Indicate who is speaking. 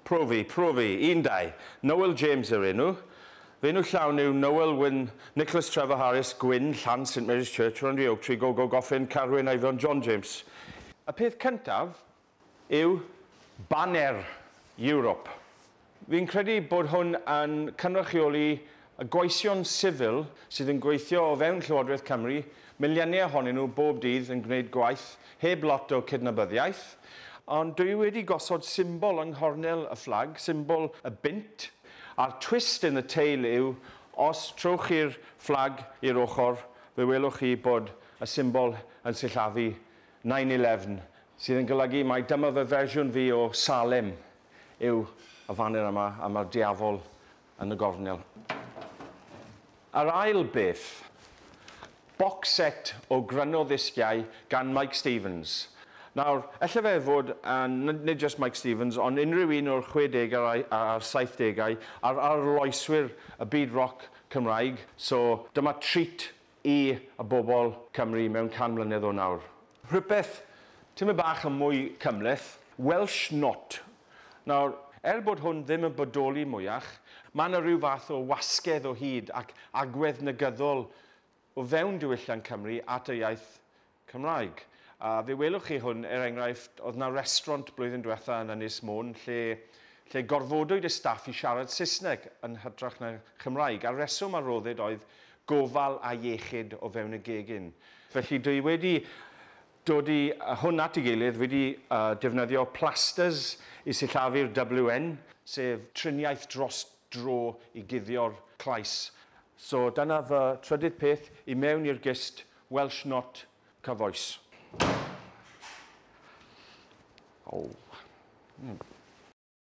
Speaker 1: Profi, profi. Un, dau. Noel James yw'r enw. Fy enw llawn yw Noel Wyn Nicholas Trevor Harris, Gwyn, Llan, St Mary's Church, Rondri Oak Tree, Gogo, Goffin, Carwyn, Eifion, John James. Y peth cyntaf yw baner Europe. Fi'n credu bod hwn yn cynrychioli y gweision sifil sydd yn gweithio o fewn Llywodraeth Cymru, miliynau ohonyn nhw bob dydd yn gwneud gwaith heb lot o cydnabyddiaeth, ond dwi wedi gosod symbol yng nghornel y fflag, symbol y bunt, a'r twist in the tail yw, os trowch chi'r fflag i'r ochr, fe welwch chi bod y symbol yn sillafu nine eleven, sydd yn golygu mai dyma fy fersiwn fi o Salem. yw y faner yma a mae'r diafol yn y gornel. Yr ail beth, box set o grynno ddisgiau gan Mike Stevens. Nawr, ella fe fod, a nid jyst Mike Stevens, ond unrhyw un o'r 60au a'r 70au a'r arloeswyr y byd roc Cymraeg, so dyma treat i y bobl Cymru mewn can mlynedd o nawr. Rhywbeth tymed bach yn mwy cymhleth, Welsh Not. Nawr, er bod hwn ddim yn bodoli mwyach, mae yna ryw fath o wasgedd o hyd ac agwedd negyddol o fewn diwylliant Cymru at y iaith Cymraeg. A fe welwch chi hwn, er enghraifft, oedd 'na restraunt blwyddyn diwetha' yn Ynys Môn lle lle gorfodwyd y staff i siarad Saesneg yn hytrach na Chymraeg, a'r reswm a roddid oedd gofal a iechyd o fewn y gegin. Felly dwi wedi dod i a hwn at ei gilydd, wedi defnyddio plasters i sillafu'r WN, sef triniaeth dros dro i guddio'r clais. So dyna fy trydydd peth i mewn i'r gist Welsh not cyfoes. Oh. Mm.